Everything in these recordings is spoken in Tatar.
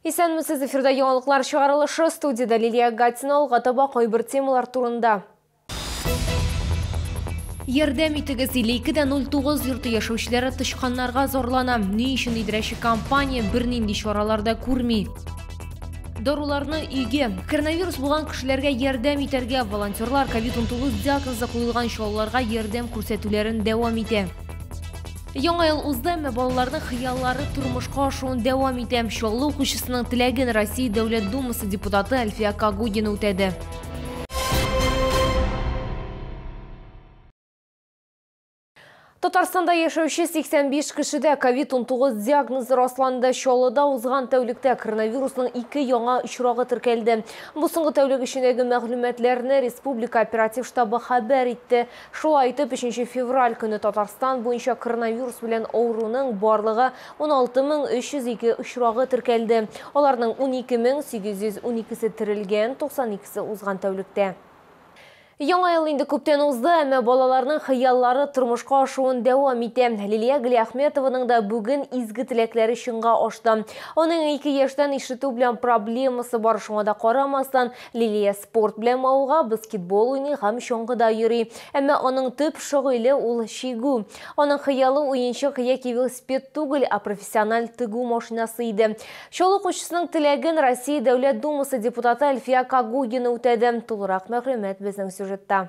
Исәнмесез, эфирда яңалыклар чыгарылышы, студиядә Лилия Гатина, алга таба кайбер темалар турында. Ярдәм итегез 52-09 йорты яшәүчеләре тычканнарга зарлана. Ни өчен идрәче компания бернинди чаралар да күрми? даруларны өйгә коронавирус булган кешеләргә ярдәм итәргә волонтерлар covid 19 диагнозы куелган чалларга ярдәм күрсәтүләрен дәвам итә Яңа ел узды, әмма балаларның хыяллары тормышка ашуын дәвам итә. Чаллы укучысының теләген Россия Дәүләт Думасы депутаты Әлфия Кагудина үтәде. Татарстанда яшәүче 85 кешедә COVID-19 диагнозы расланды. Чаллыда узган тәүлектә коронавирусның ике яңа очрагы теркәлде. Бу соңгы тәүлек эчендәге мәгълүматларны республика оператив штабы хәбәр итте. Шулай итеп, өченче февраль көне Татарстан буенча коронавирус белән авыруның барлыгы 16 мең 302 очрагы теркәлде. Аларның 12 мең 812 се терелгән, 92 се узган тәүлектә. Яңа ел инде күптән узды, әмма балаларның хыяллары тормышка ашуын дәвам итә. Лилия Галиәхметованың да бүген изге теләкләре чынга ашты. Аның ике яшьтән ишетү белән проблемасы бар, шуңа да карамастан, Лилия Спорт белән мавыга, баскетбол уйный һәм чаңгыда йөри. Әмма аның төп шөгыле ул чигү. Аның хыялы уенчык яки велосипед түгел, ә профессиональ тегү машинасы иде. Чаллы укучысының теләген Россия Дәүләт Думасы депутаты Әлфия Кагугина үтәде. Тулырак мәгълүмат безнең сюжетта.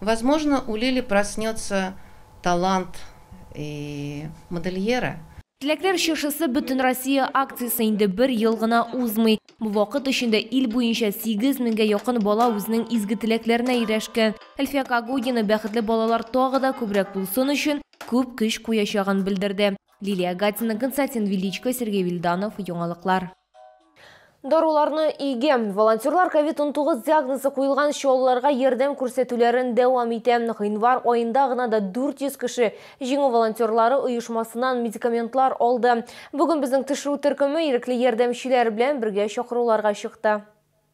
Возможно, у Лили проснется талант и модельера. Теләкләр чыршысы Бөтенроссия акциясе инде бер ел гына узмый. Бу вакыт эчендә ил буенча 8 меңгә якын бала үзенең изге теләкләренә ирешкән. Әлфия Кагудина бәхетле балалар тагы да күбрәк булсын өчен күп көч куячагын белдерде. Лилия Гатина, Константин Величко, Сергей Вильданов, Яңалыклар. Даруларны өйгә. Волонтерлар COVID-19 диагнозы куелган чаллыларга ярдәм күрсәтүләрен дәвам итә. Гыйнвар аенда гына да 400 кеше Җиңү волонтерлары оешмасыннан медикаментлар алды. Бүген безнең төшерү төркеме ирекле ярдәмчеләр белән бергә чакыруларга чыкты.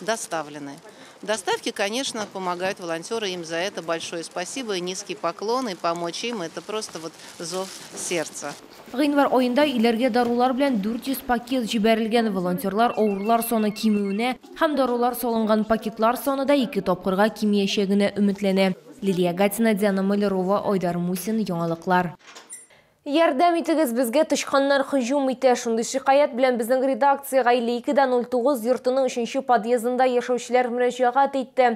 доставлены. Доставки, конечно, помогают волонтеры, им за это большое спасибо и низкий поклон, и помочь им это просто вот зов сердца. Гыйнвар аенда иләргә дарулар белән 400 пакет җибәрелгән. Волонтерлар авырулар саны кимүенә һәм дарулар салынган пакетлар саны да ике тапкырга кимиячәгенә өметләнә. Лилия Гатина, Диана Малярова, Айдар Мусин, Яңалыклар. Ярдәм итегез, безгә тычканнар һөҗүм итә. Шундый шикаять белән безнең редакциягә 52 дә 09 йортының өченче подъездында яшәүчеләр мөрәҗәгать итте.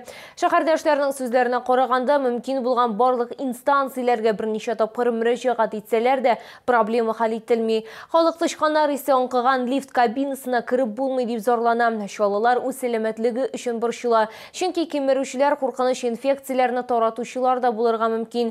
Шәһәрдәшләрнең сүзләренә караганда, мөмкин булган барлык инстанцияләргә берничә тапкыр мөрәҗәгать итсәләр дә, проблема хәл ителми. Халык тычканнар исе аңкыган лифт кабинасына кереп булмый дип зарлана. Чаллылар үз сәламәтлеге өчен борчыла. Чөнки кимерүчеләр куркыныч инфекцияләрне таратучылар да булырга мөмкин.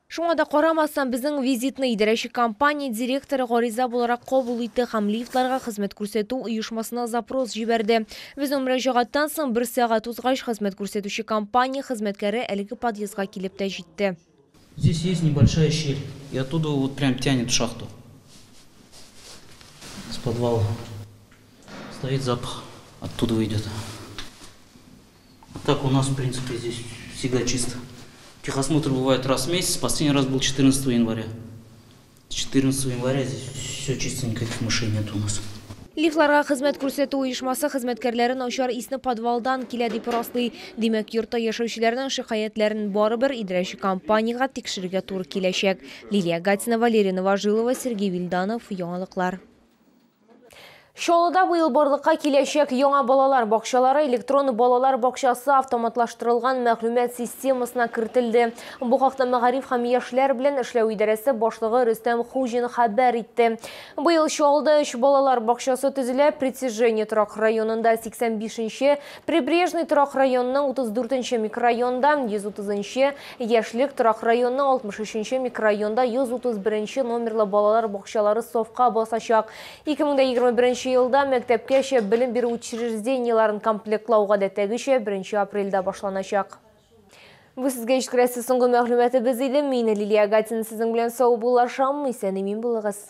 Шуңа да карамастан, безнең визитны идарәче компания директоры гариза буларак кабул итте һәм лифтларга хезмәт күрсәтү оешмасына запрос җибәрде. Безнең мөрәҗәгатьтән соң бер сәгать узгач, хезмәт күрсәтүче компания хезмәткәре әлеге подъездга килеп тә җитте. Здесь есть небольшая щель. И оттуда вот прям тянет в шахту. С подвала. Стоит запах. Оттудова идет. А так у нас в принципе здесь всегда чисто. Техосмотр бывает раз в месяц, последний раз был 14 января. С 14 января здесь все чисто, никаких мышей нет у нас. Лифларга хезмәт күрсәтү оешмасы хезмәткәрләре начар исне подвалдан килә дип раслый. Димәк, йортта яшәүчеләрнең шикаятьләрен барыбер идрәче компаниягә тикшерергә туры киләчәк. Лилия Гатина, Валерий Новожилова, Сергей Вильданов, Яңалыклар. Чаллыда быел барлыкка киләчәк яңа балалар бакчалары электрон балалар бакчасы автоматлаштырылган мәгълүмат системасына кертелде. Бу хакта мәгариф һәм яшьләр белән эшләү идарәсе башлыгы Рөстәм Хуҗин хәбәр итте. Быел Чаллыда өч балалар бакчасы төзелә, Притяжение торак районында 85 нче, Прибрежный торак районының 34 нче микрорайонында, 130 нчы, Яшьлек торак районының 63 нче микрорайонында 131 нче номерлы балалар бакчалары сафка басачак. 2021 нче елда мәктәпкәчә белем бирү учреждениеләрен комплектлау гадәттәгечә беренче апрельдә башланачак. Бу сезгә җиткерәсе соңгы мәгълүматыбыз иде. Мин, Лилия Агатина сезнең белән саубуллашам. Исән-имин булыгыз.